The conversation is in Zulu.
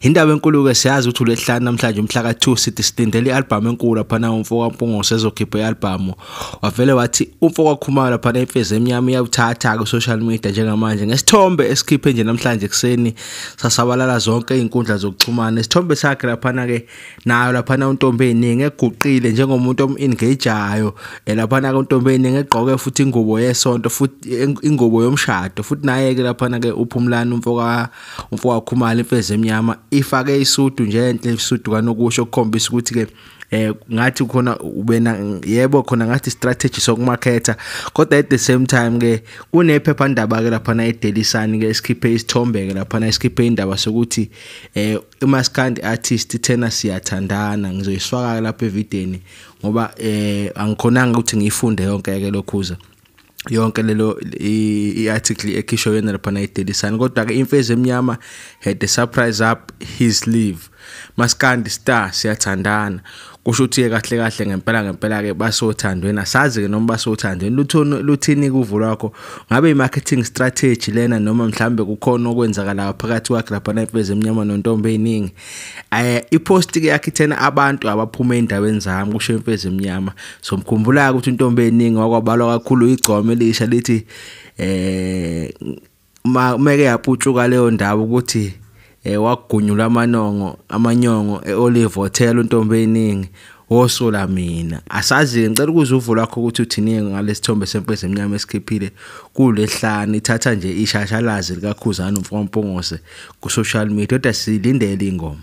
Indaba enkulu ke siyazi ukuthi uLwesihlanu namhlanje umhla ka2 sithi silindele ialbum enkulu laphana umfoka Mpungose ezokhipha ialbum. Wavele wathi umfoka Khumalo laphana imfezi emnyama iyawuthatha ku social media njengamanje ngesithombe esikhiphe nje namhlanje kuseni sasabalala zonke izinkundla zokuxhumana. Isithombe sakhe laphana ke nayo laphana untombi eningi eguqile njengomuntu omengageayo eh, laphana ke untombi eningi egqoke futhi ingubo yesonto futhi ingubo yomshado futhi naye ke laphana ke uphumlani umfoka umfowabo Khumalo imfezi emnyama ifake isudu nje enhle isudu kanokusho ukukhombisa ukuthi ke eh ngathi khona ubena yebo khona ngathi strategy sokumarketa kodwa at the same time ke kunephepha ndaba ke lapha na eDaily Sun ke esikhiphe isithombe ke lapha na esikhiphe indaba sokuthi eh imaskandi artist thena siyathandana ngizoyisifaka lapha evideni ngoba eh angikhonanga ukuthi ngiyifunde yonke ke lokhuza yonke lelo i-article ekhishwe yena lapha na i-daily sun kodwa-ke imfezi emnyama had a surprise up his leave maskandi star siyathandana kusho ukuthi-ke kahle kahle ngempela ngempela-ke basothandweni asazi-ke noma basothandweni luthini kuvo lwakho ngabe i-marketing strategy lena noma mhlawumbe kukhona okwenzakalayo phakathi kwakhe lapha na imfezi emnyama nontombi ey'ningi Eh ipost ke yakhe ithena abantu abaphuma endaweni zami kusho imfezi emnyama. So mkhumbula ukuthi intombi eningi wakwabalwa kakhulu igcome lisha lithi eh uma umeke yaputshuka leyo ndawo ukuthi eh wagunyulwa amanongo amanyongo eOlive Hotel untombi eningi wosola mina asazi-ke ngicela ukuza uvo lwakho ukuthi uthini-ke ngalesithombe semfezi emnyama esikhiphile kulehlani ithatha nje ishashalazi likakhuzana umfowamphongose ku-social media kodwa silindele ingoma